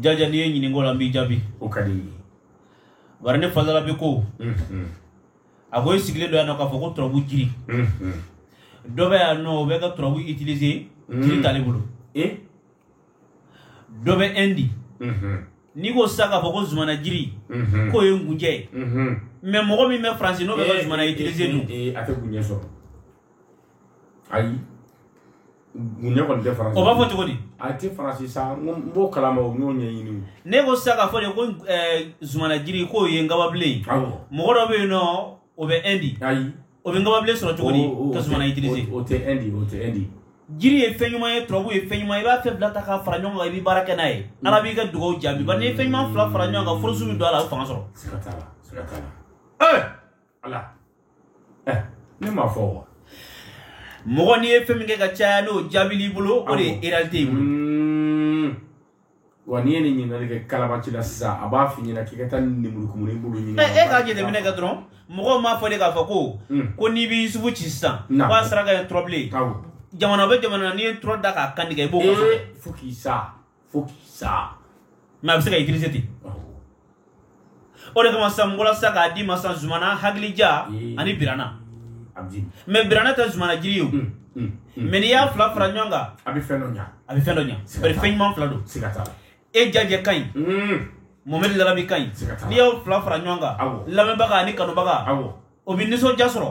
jaja n'i ye ɲininka o la n b'i jaabi o ka di n ye bari ne fasala bɛ ko a ko i sigilen don yan nɔ k'a fɔ ko turabu jiri dɔ bɛ yan nɔ o bɛ ka turabu utiliser jiri t'ale bolo dɔ bɛ ɛndi n'i ko sisan k'a fɔ ko zumana jiri k'o ye nkunjɛ ye mais mɔgɔ min bɛ faransi n'o bɛ ka zumana utiliser dun a tɛ nkunjɛ sɔrɔ ayi ne kɔni tɛ faransi o b'a fɔ cogo di a tɛ faransi sa n ko n b'o kalama o n y'o ɲɛɲini ne ko sisan k'a fɔ de ko eh, zumanajiri k'o ye nkababilen ye awɔ mɔgɔ dɔ bɛ yen nɔ o bɛ ɛndi ayi o bɛ nkababilen sɔrɔ cogo di o- o- ka zumana utiliser o o tɛ ɛndi o tɛ ɛndi jiri ye fɛn ɲuman ye turabu ye fɛn ɲuman ye i b'a fɛn fila ta k'a fara ɲɔgɔn kan i bɛ baara kɛ n'a ye ala b'i ka dugawu jaabi bari n'i ye fɛn ɲuman fila fara ɲɔgɔn kan force bɛ don a la a bɛ fanga sɔrɔ siga t'a la siga t'a la ɛɛ ala eh, ne m'a fɔ wa mɔgɔ n'i ye fɛn min kɛ ka caya n'o jaabili b'o la o de réalité b'o la hmm. wa n'i ye nin ɲininkali kɛ kalabanci la sisan a b'a f'i ɲɛna k'i ka taa nemurukumuni bulu ɲini eh, e k'a jateminɛ kɛ dɔrɔn mɔgɔw m'a fɔ de k'a fɔ ko hmm. ko n'i bɛ isufu ci sisan k'a saraka ye tɔrɔbilen jamana bɛ jamana n'i ye tɔrɔ da k'a kantigɛ i b'o kɔfɛ eh, fo k'i sa fo k'i sa mais a bɛ se ka utiliser ten o de kama sisan mɔgɔla sisan k'a d'i ma sisan zumana hakilija ani birana mais birana tɛ zumana jiri ye o mm, mm, mm. mais n'i y'a fila fara ɲɔgɔn kan a bɛ fɛn dɔ ɲa a bɛ fɛn dɔ ɲa bari fɛn ɲuman fila don e jajɛ ka ɲi mɔmɛdi lalabi ka ɲi n'i y'o fila fara ɲɔgɔn kan lamɛnbaga ani kanubaga o bɛ nisɔndiya sɔrɔ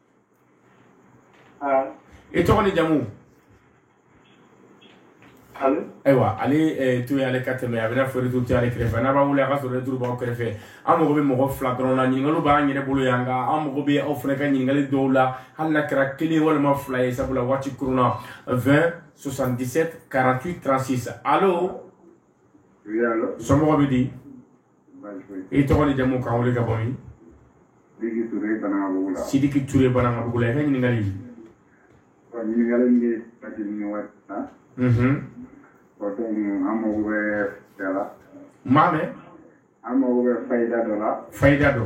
i tɔgɔ ni jamu ayiwa ale to yen ale ka tɛmɛ a bɛ n'a fɔ retour b'ale kɛrɛfɛ n'a b'a wele a ka sɔrɔ retour b'aw kɛrɛfɛ an mago bɛ mɔgɔ fila dɔrɔn la ɲininkali b'an yɛrɛ bolo yan nka an mago bɛ aw fana ka ɲininkali dɔw la hali n'a kɛra kelen walima fila ye sabula waati kurunna vingt soixante-dix-sept quarante-huit trente-six allô somɔgɔw bɛ di i tɔgɔ ni jamu k'an wele ka bɔ min sidiki ture banankabugu la i ka ɲininkali ɲininkali min ye pasiri ni waati na o don an mago bɛ fayida la n m'a mɛn an mago bɛ fayida dɔ la fayida dɔ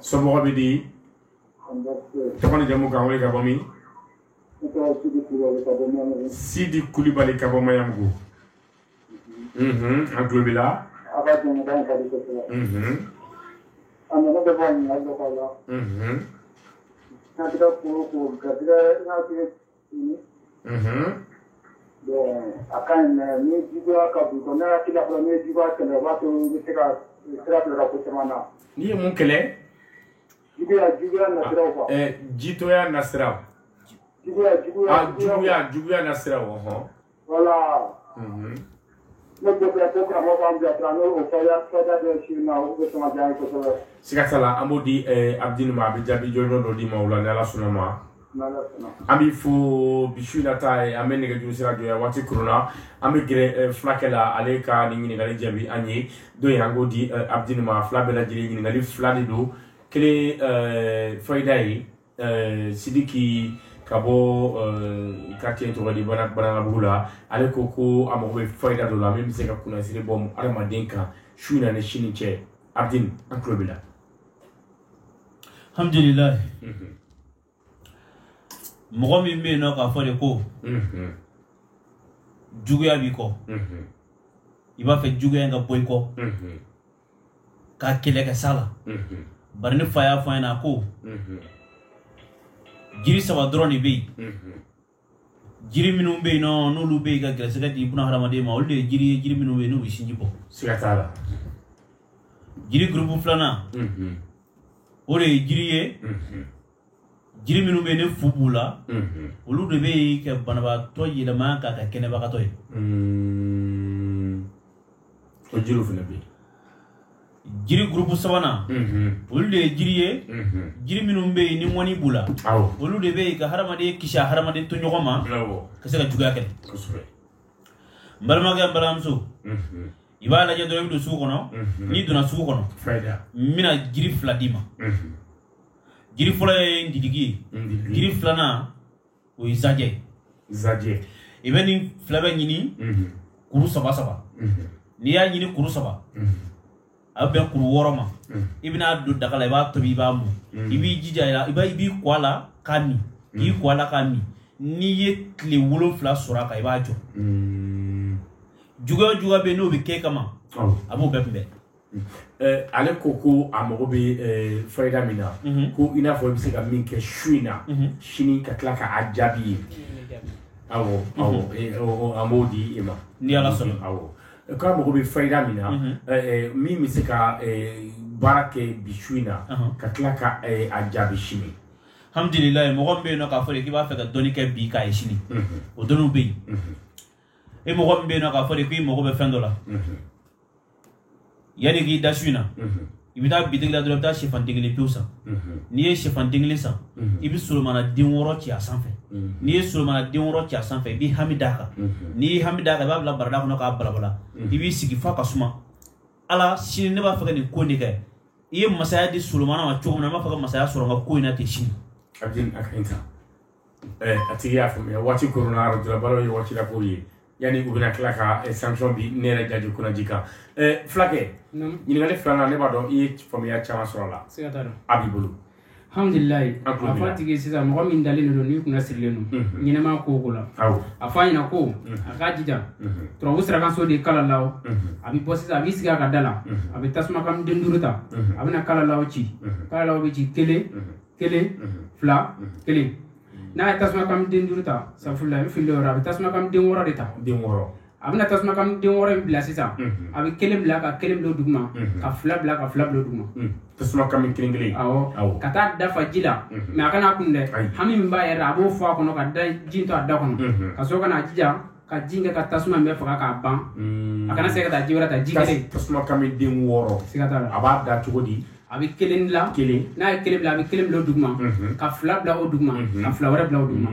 somɔgɔw bɛ di tɔgɔ ni jamu k'an wele ka bɔ min sidi kulubali ka bɔ maɲanbugu an tulo b'i la Mhm. Bon a ka ɲi mais ni juguya ka bon quoi, n'a y'a k'i la fana, n'i ye juguya kɛlɛ, o b'a to i bɛ se ka sira don i ka ko caman na. N'i ye mun kɛlɛ? Juguya, juguya nasiraw quoi. Ɛ jitɔya nasiraw. Juguya, juguya. Ah juguya, juguya nasiraw, ɔhɔn. Voilà. Mhm. Ne b'a fɛ ko karamɔgɔ k'an bilasira n'o o fayida dɔ si ma o bɛ sɔn ka diya n ye kosɛbɛ. Siga t'a la an b'o di eh, Abdini ma a bɛ jaabi jɔnjɔn dɔ d'i ma o la ni Ala sɔnna a ma. N'Ala sɔnna. An b'i fo bi su in na ta ye an bɛ nɛgɛjuru sira jɔ yan waati koronna an bɛ gɛrɛ eh, fulakɛ la ale ka nin ɲininkali jaabi ani dɔ in an k'o di eh, Abdini ma fila bɛɛ lajɛlen ɲininkali fila de don kelen eh, fayida ye Eh, sidiki ka bɔ eh, quartier tɔgɔ di banankabugu la ale ko ko a mago bɛ fayida dɔ la min bɛ se ka kunnasiri bɔ adamaden kan su in na ni sini cɛ abdin an tulo b'i la alhamdulilayi mhm. mɔgɔ min bɛ yen nɔ k'a fɔ de ko mhm. juguya b'i kɔ mhm. i b'a fɛ juguya in ka bɔ i kɔ k'a kɛlɛ kɛ sa la bari ne fa y'a fɔ n ɲɛna a ko jiri saba dɔrɔn de bɛ yen jiri minnu bɛ yen nɔ n'olu bɛ yen ka gɛrɛsɛgɛ di buna hadamaden ma olu de ye jiri ye jiri minnu bɛ yen n'u bɛ sinji bɔ siga t'a la jiri gurupu filanan o de ye jiri ye jiri minnu bɛ ni fu b'u la olu de bɛ yen ka banabaatɔ yɛlɛma k'a kɛ kɛnɛbagatɔ ye o jiriw fana bɛ yen jiri gurupu sabanan olu de ye jiri ye jiri minnu bɛ yen ni ŋɔni b'u la olu de bɛ yen ka hadamaden kisi a hadamaden tɔɲɔgɔn ma ka se ka juguya kɛ n balimakɛ n balimamuso i b'a lajɛ dɔrɔn i bɛ don sugu kɔnɔ n'i donna sugu kɔnɔ n bɛna jiri fila d'i ma jiri fɔlɔ ye ngiliki ye jiri filanan o ye zajɛ zajɛ i bɛ nin fila bɛɛ ɲini kuru saba saba n'i y'a ɲini kuru saba a bɛ bɛn kuru wɔɔrɔ ma i bɛ n'a don daga la i b'a tobi i b'a mɔn i b'i jija i la i b'i ko a la k'a min k'i ko a la k'a min n'i ye tile wolonfila sɔrɔ a kan i b'a jɔ juguya o juguya bɛ yen n'o bɛ kɛ kama a b'o bɛɛ kunbɛn Eh, ale ko ko a mago bɛ eh, fayida min na mhm. ko i n'a fɔ i bɛ se ka min kɛ su in na mhm. sini ka tila k'a jaabi ye awɔ mhm. eh, an b'o di e ma ni ala sɔnna awɔ k'a mago bɛ fayida min na min bɛ se ka baara kɛ bi su in na ka tila ka a jaabi sini alhamdulilayi mɔgɔ min bɛ yen nɔ k'a fɔ de k'i b'a fɛ ka dɔnni kɛ bi k'a ye sini o dɔnniw bɛ yen e mɔgɔ min bɛ yen nɔ k'a fɔ de k'i mago bɛ fɛn dɔ la yanni k'i da su in na i bɛ taa bitigi la dɔrɔn i bɛ taa sɛfan den kelen pewu san n'i ye sɛfan den kelen san i bɛ solomana den wɔɔrɔ ci a sanfɛ n'i ye solomana den wɔɔrɔ ci a sanfɛ i b'i hami d'a kan n'i y'i hami d'a kan i b'a bila barada kɔnɔ k'a balabala i b'i sigi f'a ka suma ala sini ne b'a fɛ ka nin ko in de kɛ i ye masaya di solomana ma cogo min na n b'a fɛ ka masaya sɔrɔ n ka ko in na ten sini a tigi y'a faamuya waati koronna arajo la baro ye waati la ko ye yanni u bɛna tila ka eh, sanction bi ne yɛrɛ jaji kunaji kan eh, fulakɛ ɲininkali filanan ne b'a dɔn i ye faamuya caman sɔrɔ a la a b'i bolo alhamdulilayi a fɔ a tigi sisan mɔgɔ min dalen de don n'i kunna sirilen don mhm. ɲɛnɛma ko ko la a fɔ a ɲɛna ko mhm. a k'a jija mhm. turabu sirakanso de kalalaw a bɛ bɔ sisan a b'i sigi a ka da la a bɛ tasuma kami den duuru ta a bɛna kalalaw ci kalalaw bɛ ci kelen kelen fila kelen n'a ye tasuma kami den duuru ta safurula i bɛ fili yɔrɔ a bɛ tasuma kami den wɔɔrɔ de ta den wɔɔrɔ a bɛna tasuma kami den wɔɔrɔ in bila sisan a bɛ kelen bila ka kelen bila duguma ka fila bila ka fila bila duguma tasuma kami kelen kelen awɔ ka taa da fa ji la mɛ a kana kunu dɛ hami min b'a yɛrɛ la a b'o fɔ a kɔnɔ ka da ji to a da kɔnɔ ka sɔrɔ ka n'a jija ka ji kɛ ka tasuma bɛɛ faga k'a ban a kana se ka taa ji wɛrɛ ta ji kelen tasuma kami den wɔɔrɔ siga t'a la a b'a da cogo di a bɛ kelen bila kelen n'a ye kelen bila a bɛ kelen bila o duguma ka fila bila o duguma ka fila wɛrɛ bila o duguma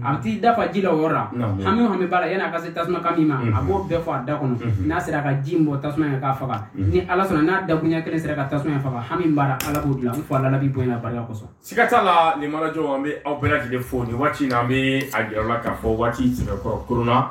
a bɛ t'i da fa ji la o yɔrɔ la hami o hami b'a la yann'a ka se tasuma kami ma a b'o bɛɛ fɔ a da kɔnɔ n'a sera ka ji in bɔn tasuma in k'a faga ni ala sɔnna n'a dakunya kelen sera ka tasuma in faga hami min b'a la ala b'o dilan n fɔ annabi bonya barika kosɔn siga t'a la nɛɛma arajo an bɛ aw bɛɛ lajɛlen fo nin waati in na an bɛ a jira aw la k'a fɔ waati sɛbɛkɔrɔ koronna